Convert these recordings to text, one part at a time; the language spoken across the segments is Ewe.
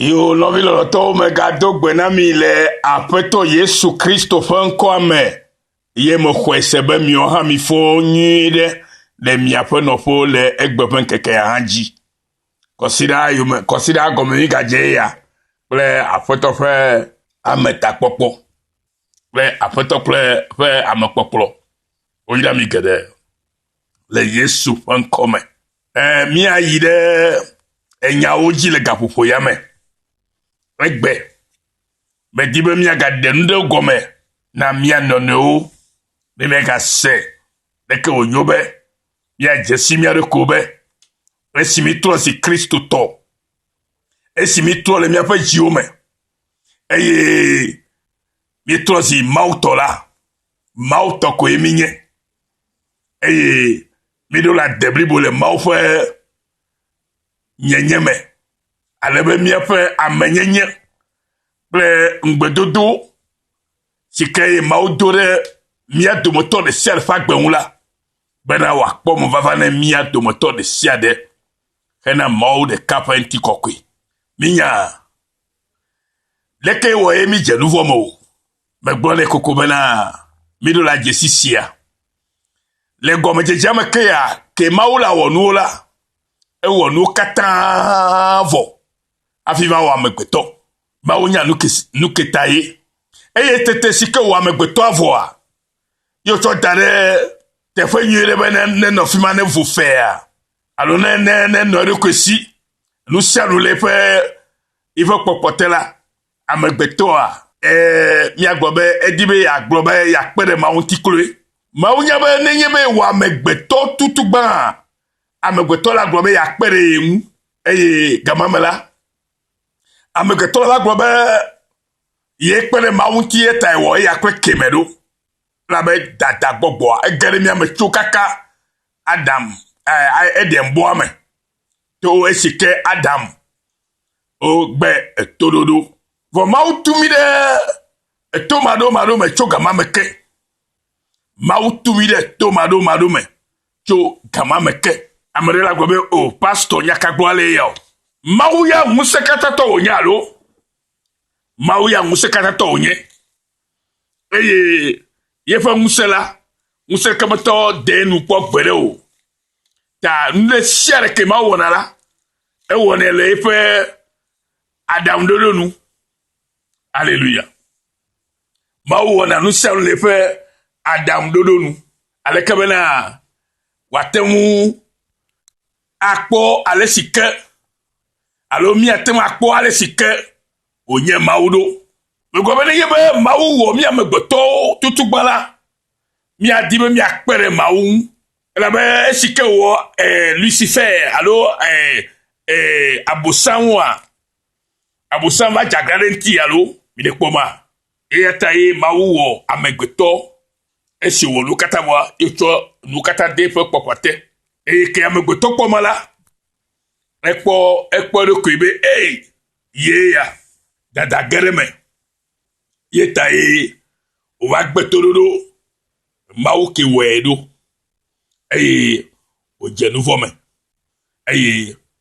Yo nɔvi lɔlɔtɔwo me gado gbe na mi le Aƒetɔ Yesu Kristo ƒe ŋkɔa me, ye mexɔe se be miwo hã mifɔ nyuie ɖe le miaƒe nɔƒewo le egbe ƒe ŋkekea hã dzi. Kɔsiɖa yome, kɔsiɖa gɔme mi gadze ya kple Aƒetɔ ƒe ame takpɔkpɔ kple Aƒetɔ kple ƒe ame kpɔkplɔ. Woyra mi geɖe. le Yesu ƒe ŋkɔ me. Ɛɛ, míayi ɖe enyawo dzi le gaƒoƒo ya me. Egbe, medi be míagaɖe nu ɖe gɔme na mía nɔnɔewo be míagase leke wònyo be míadze si mía ɖokuiwo be esi mítrɔ zi Kristotɔ, esi mítrɔ le míaƒe dziwo me, eye míetrɔ zi Mawutɔ la, Mawutɔ koe mínye. eye míɖo la de blibo le Mawu ƒe nyenye me, ale be míaƒe amenyenye kple ŋugbedodo si ke Mawu do ɖe mía dometɔ ɖe sia ɖe ƒe agbe ŋu la, bena wòakpɔ mevava ne mía dometɔ ɖe sia ɖe hena Mawu ɖeka ƒe ŋutikɔkɔe. Mínya leke wɔe mídze nu vɔ̃ me o. Megblɔ nɛ koko bena, Miɖo la dzesi sia. Le gɔmedzedzea me ke ya, ke Mawu la wɔ nuwo la, ewɔ nuwo katã vɔ hafi va wɔ amegbetɔ. Mawu nya nuketa ye. Eye tete si ke wɔ amegbetɔa vɔa, ye wotsɔ da ɖe teƒe nyui ɖe be nenɔ fi ma nevu fea alo ne ne nenɔ eɖokui si. Nu sia nu le eƒe eƒe kpɔkpɔ te la, Amegbetɔa? Ɛ̃, míagblɔ be edi be yeagblɔ be yeakpe ɖe Mawu ŋuti kloe. Mawu nya be nenye be yewɔ amegbetɔ tutu gbãa, amegbetɔ la gblɔ be yeakpe ɖe ye ŋu. Eye gama me la, amegbetɔ la gblɔ be yekpe ɖe Mawu ŋuti eya tae wɔ eya kple Ke me ɖo. Elabe dada gbɔgbɔa ege ɖe mía me tso kaka Adam, ɛ̃, Edenbɔa me. To esi ke Adam Wogbe etoɖoɖo, vɔ Mawu tu mí ɖe eto maɖomaɖo me tso gama me ke. Mawu tu mí ɖe eto maɖomaɖo me tso gama me ke. Ame ɖe la gblɔ be, o, pastɔ, nya ka gbɔ ale ya o? Mawu ya ŋusẽkatãtɔ wònye alo? Mawu ya ŋusẽkatãtɔ wònye. Eye yeƒe ŋusẽ la, ŋusẽkemetɔ dee nu kpɔ gbeɖe o. Ta nu ɖe sia ɖe ke Mawu wɔna la, ewɔnɛ le eƒe aɖaŋuɖoɖo nu. Aleluya. Mawu wɔna nu sia nu le eƒe aɖaŋuɖoɖo nu. Aleke bena wòate ŋu akpɔ ale si ke alo míate ŋu akpɔ ale si ke wònye Mawu ɖo. Megblɔ be nenye be Mawu wɔ mí amegbetɔwo tutugba la, míadi be míakpe ɖe Mawu ŋu Elabe esi ke wòwɔ e, Lucifer alo e, e, abosanwoa, abosan va dze aglã ɖe ŋuti alo mi ɖe kpɔ ma. Eya ta ye Mawu wɔ amegbetɔ esi wòwɔ nu katã vɔa, ye tsɔ nu katã de eƒe kpɔkpɔ te. Eye ke amegbetɔ kpɔ ma la, ekpɔ ekpɔ eɖokui be ee, ye ya dada ge ɖe me. Ye tae wòva gbe toɖoɖo Mawu ke wɔe ɖo, eye wòdze nu vɔ̃ me, eye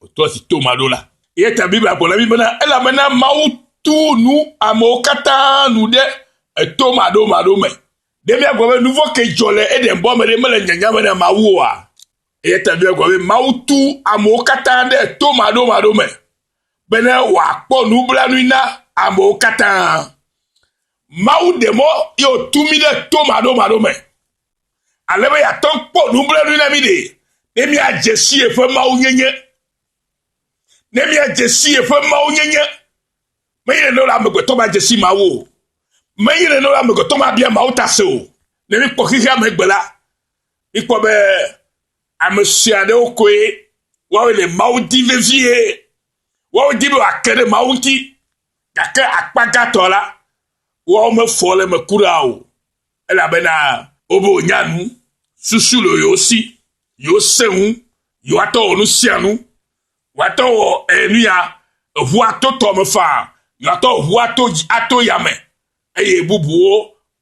wòtrɔ si to ma ɖo la. Ye ta Biblia gblɔ na mí bena, Elabena Mawu tu nu amewo katã nu ɖe eto maɖomaɖo me. Ɖe míagblɔ be nu vɔ̃ ke dzɔ le Eden-bɔ me ɖe mele nyanya me na Mawu oa? Eya ta Biblia gblɔ be Mawu tu amewo katã ɖe eto maɖomaɖo me. bene wòakpɔ nublanui na amewo katã. Mawu ɖe mɔ ye wòtu mí ɖe to maɖomaɖo me, ale be yeate ŋu kpɔ nublanui na mí ɖe ne míadze si yeƒe mawunyenye. Ne míadze si yeƒe mawunyenye, menye nene wòle amegbetɔ ma dze si Mawu o. Menye nene wòle amegbetɔ ma bia Mawu ta se o. Ne míkpɔ xexea me gbe la, míkpɔ be Ame sue aɖewo koe woawo le Mawu di vevie. Woawo di be wòake ɖe Mawu ŋuti. Gake akpa gãtɔ la, woawo mefɔ le eme kura o. Elabena wobe wònya nu, susu le yewo si, yewo se ŋu, yewoatɔ wɔ nu sia nu. Woatɔ wɔ eh, nu ya, eŋu ato tɔ me faa, yewoatɔ eŋu ato, ato yame, eye bubuwo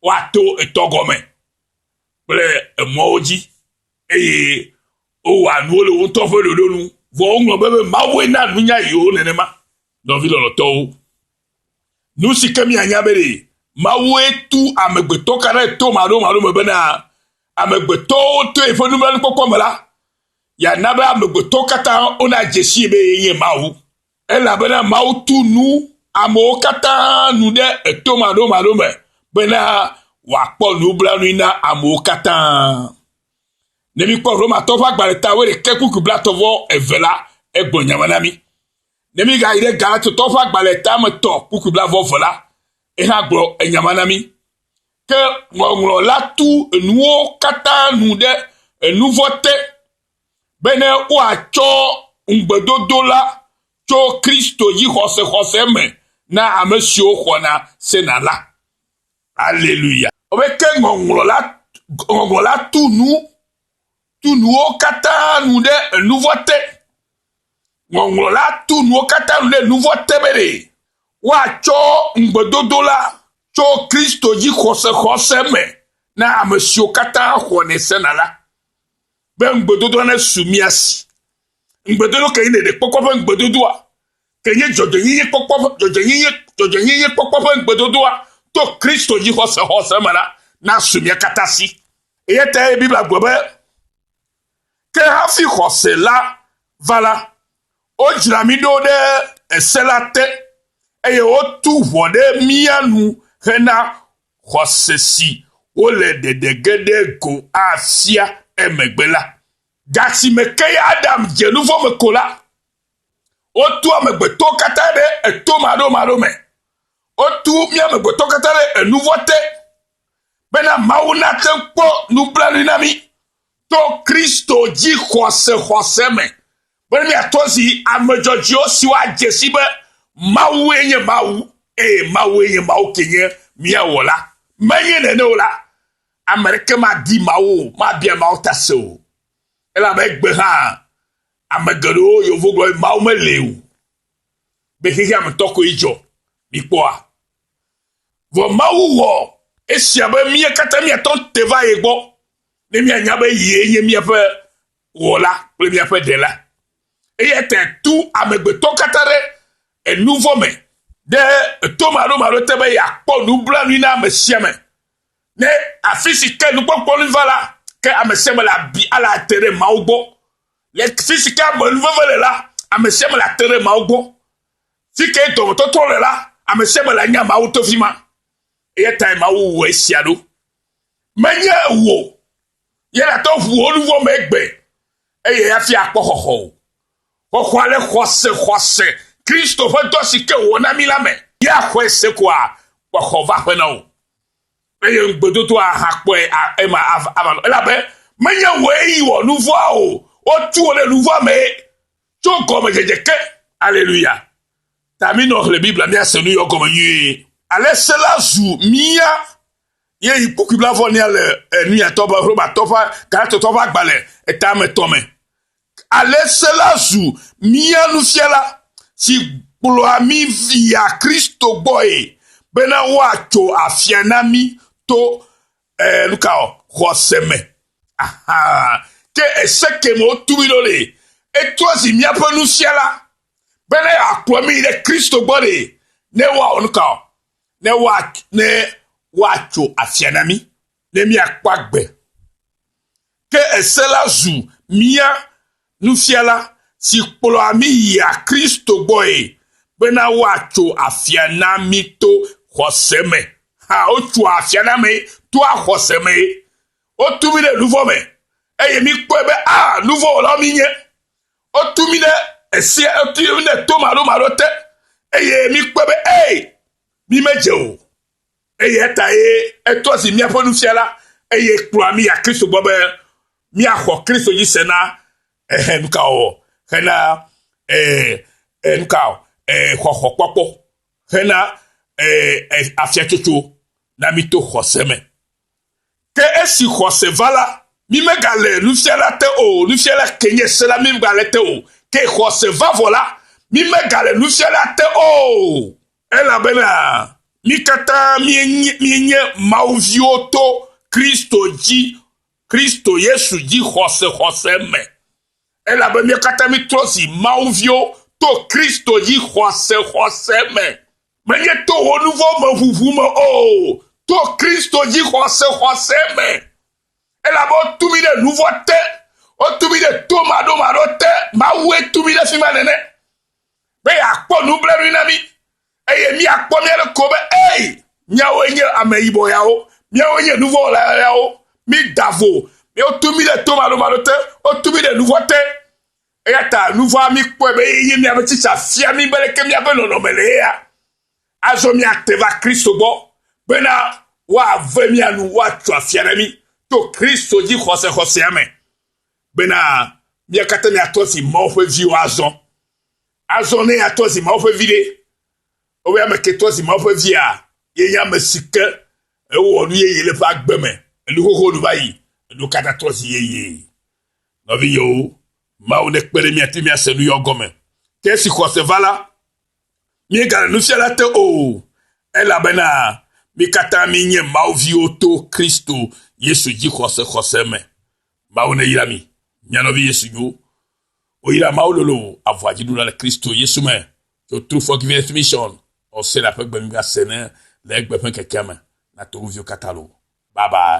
woato etɔ gɔme kple emɔwo dzi. Eye wowɔa nuwo le wo ŋutɔ ƒe ɖoɖo nu, vɔ woŋlɔ be be Mawue na nunya yewo nenema. Nɔvi lɔlɔtɔwo, nu si ke mianya be ɖe Mawue tu amegbetɔ ka ɖe to maɖomaɖo me bena amegbetɔwo to yeƒe nublanuikpɔkpɔ me la, yeana be amegbetɔwo katã wonadze sii be yee nye Mawu. Elabena Mawu tu nu amewo katã nu ɖe eto maɖomaɖo me bena wòakpɔ nublanui na amewo katã. Ne míkpɔ Romatɔ ƒe agbalẽ ta wuiɖekɛ kpukpui blatɔ vɔ eve la, egbɔ nya me na mí. Ne mígayi ɖe Galatotɔ ƒe agbalẽ ta me tɔ kpukpui blavɔ eve la, ehã gblɔ enya ma na mí. Ke ŋɔŋlɔ la tu enuwo katã nu ɖe enu vɔ̃ te. bene woatsɔ ŋugbedodo la tso Kristo dzi xɔsexɔse me na ame siwo xɔna sena la. Aleluya! Wɔbe ke ŋɔŋlɔ la, ŋɔŋlɔ la tu nu, tu nuwo katã nu ɖe enuvɔ te. Ŋɔŋlɔ la tu nuwo katã nu ɖe enuvɔ te be ɖe woatsɔ ŋugbedodo la tso Kristo dzi xɔsexɔse me na ame siwo katã xɔnɛ sena la. be ŋugbedodoa nesu mia si. Ŋugbedodo ke nye ɖeɖekpɔkpɔ ƒe ŋugbedodoa, ke nye dzɔdzɔenyenye kpɔkpɔ ƒe dzɔdzɔenyenye dzɔdzɔenyenye kpɔkpɔ ƒe ŋugbedodoa to Kristo dzi xɔse xɔse me la nasu mia katã si. Eya tae Biblia gblɔ be, Ke hafi xɔse la va la, wodzra mí ɖo ɖe ese la te, eye wotu ʋɔ ɖe mía nu hena xɔse si wole ɖeɖe ge ɖe go afia emegbe la. Gasime ke Adam dze nu vɔ̃ me ko la, wotu amegbetɔwo katã ɖe eto maɖomaɖo me. Wotu mí amegbetɔwo katã ɖe enu vɔ̃ te bena Mawu nate ŋu kpɔ nublanui na mí to Kristo dzixɔsexɔse me Be miatɔ zi ame dzɔdzɔewo siwo adze si be Mawue nye Mawu, eye Mawue nye Mawu ke nye mía Wɔla. Menye nene o la, ame aɖeke madi Mawu o, mabia Mawu ta se o. Elabe egbe hã, ame geɖewo yewo gblɔ be Mawu meli o, be xexea me tɔ koe dzɔ. Mikpɔa? Vɔ Mawu wɔ esia be mía katã míatɔ te va ye gbɔ, ne míanya be yee nye míaƒe Wɔla kple míaƒe Ɖela. Eya tae tu amegbetɔ katã ɖe enuvɔ̃ me ɖe etomaɖomaɖo te be yeakpɔ nublanui na ame sia ame. Ne afi si ke nukpɔkpɔ nu va la, ke ame sia ame le abi ale ate ɖe Mawu gbɔ. Le fi si ke ame nu veve le la, ame sia ame le ate ɖe Mawu gbɔ. Fi ke dɔmetɔtrɔ le la, ame sia ame le anya Mawu to fi ma. Eya tae Mawu wɔ esia ɖo. Menye wò. Ye nate ŋu wò nu vɔ̃ me egbe, eye hafi akpɔ xɔxɔ o. Xɔxɔa le xɔse, xɔse, Kristo ƒe dɔ si ke wòwɔ na mí la me. Ye axɔe se koa, xɔxɔ va ƒe na wò. Eye ŋugbedodoa hã kpɔe a, ema ava, ava nɔ. Elabe menye wòe yi wɔ nu vɔ̃a o, wotu wò ɖe nu vɔ̃a mee tso gɔmedzedze ke. Aleluya! Ta minɔ xlẽ Biblia, míase nu yɔ gɔme nyuie. Ale se la zu mía Ye yi kpokui blavɔnia le enuyatɔ be Romatɔ ƒe Galatɔtɔ ƒe agbalẽ eta me tɔ me. Ale se la zu mía nufiala si kplɔa mí via Kristo gbɔe bena woatso afia na mí to eh, nuka o, xɔse me. Aha, ke ese ke me wotu mí ɖo ɖe, etrɔ zi míaƒe nufiala bena yeakplɔ mí ɖe Kristo gbɔ ɖe, ne woawɔ nuka o. ne woa ne woatso afia na mí ne míakpɔ agbe. Ke ese la zu mía nufiala si kplɔa mí yia Kristo gbɔe bena woatso afia na mí to xɔse me. Ha wotsoa afia na mí toa xɔse me. Wotu mí ɖe nuvɔ me eye míkpɔe be a ah, nuvɔwɔlawo mí nye. Wotu mi ɖe esi eti ɖe to maɖomaɖo te eye mikpɔ be ee mi medze o eye eta ye etrɔ zi míaƒe nufiala eye kplɔa mi ya kristo gbɔ be míaxɔ kristo dzi se na ehe nuka wɔwɔ hena ee nuka ee xɔxɔ kpɔkpɔ hena ee afiatsotso na mi to xɔse me Ke esi xɔse va la, mi megale nufiala te o, nufiala ke nye se la mi megale te o, ke xɔse va vɔ la, mi megale nufiala te o, elabena mi katã mienye Mawu viwo to Kristo dzi, Kristo Yesu dzi xɔse xɔse me. Elabe mi katã mitrɔ zi Mawu viwo to Kristo dzi xɔse xɔse me. menye to wò nu vɔ̃ me ʋuʋu me o, to Kristo dzi xɔse xɔse me. Elabe wotu mi ɖe nu vɔ̃ te, wotu mi ɖe to maɖomaɖo te, Mawue tu mi ɖe fi ma nene, be yeakpɔ nublanui na mi, eye míakpɔ mía ɖe ko be, ei, míawoe nye ame yibɔ yawo, míawoe nye nu vɔ̃ wɔla yawo, mída vo, wotu mi ɖe to maɖomaɖo te, wotu mi ɖe nu vɔ̃ te, Eya ta nu vɔ̃a míkpɔe be ye míaƒe tsitsa fia mí be leke míaƒe nɔnɔme le yea. Azɔ míate va Kristo gbɔ bena woave mía nu, woatso afia na mí to Kristo dzixɔsexɔsea me, bena mía katã míatɔ zi Mawu ƒe viwo azɔ. Azɔ ne yeatɔ zi Mawu ƒe vi ɖe, ewɔe ame ke tɔ zi Mawu ƒe via, ye nye ame si ke ewɔ nu yeye le eƒe agbe me, enu xoxo nu va yi, enu ka ta tɔ zi yeye? Nɔvinyewo, Mawu nekpe ɖe míate ŋu ase nu yɔ gɔme. Ke esi xɔse va la, míegale nufiala te o, elabena mí katã míenye Mawu viwo to Kristo Yesu dzixɔse xɔse me. Mawu neyra mi, mia nɔvi Yesu nyo. Woyra Mawu lolo avɔa dziɖula le Kristo Yesu me tso True Forgiveness Mission Osera ƒe gbenyigba sene le egbe ƒe ŋkekea me. Na to wo viwo katã lo. Bye bye.